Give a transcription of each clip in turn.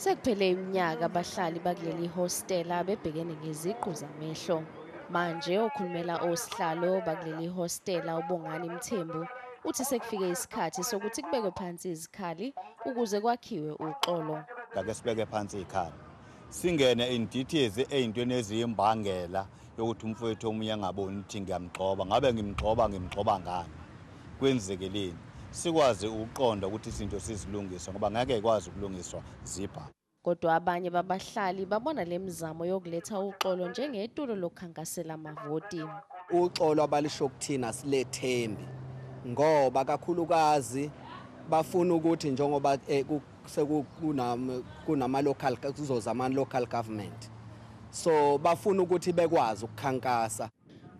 Sekuphele iminyaka abahlali bakuleli hostela bebhekene ngeziqu zamehlo. Manje okhulumela osihlalo bakuleli hostela uBongani Mthembu uthi sekufike isikhathi sokuthi kubekwe phansi izikhali ukuze kwakhiwe uxolo. Ngake sibeke phansi izikhali singene in details ey'ntweni eziyimbangela yokuthi umfowethu omunye angaboni ukuthi ngiyamgxoba ngabe ngimgxoba ngimgxoba ngani kwenzekeleni sikwazi ukuqonda ukuthi izinto sizilungise ngoba ngeke ikwazi ukulungiswa zibha kodwa abanye babahlali babona le mizamo yokuletha uxolo njengetulo lokukhankasela amavoti uxolo abalisho kuthina silethembi ngoba kakhulukazi bafuna ukuthi njengoba eh, sekunama-local kuzoza ama-local government so bafuna ukuthi bekwazi ukukhankasa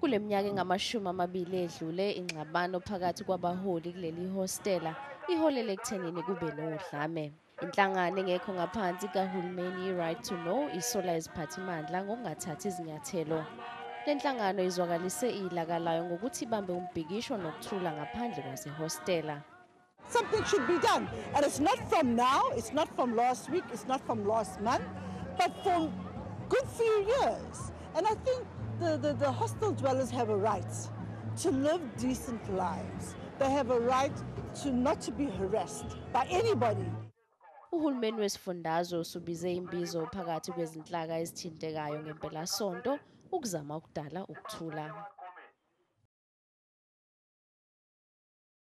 kule minyaka engamashumi amabili edlule ingxabano phakathi kwabaholi kuleli hostela iholele ekuthenini kube nodlame inhlangano engekho ngaphansi kahulumeni i-right to know isola iziphathimandla ngokungathathi izinyathelo le nhlangano izwakalise ilaka layo ngokuthi ibambe umbhikisho nokuthula ngaphandle kwasehostela Something should be done. And it's not from now, it's not from last week, it's not from last month, but from good few years. And I think the, the, the hostel dwellers have a right to live decent lives. They have a right to not to be harassed by anybody. Uhulumeni wesifundazwe usubize imbizo phakathi kwezinhlaka ezithintekayo ngempelasonto ukuzama ukudala ukuthula.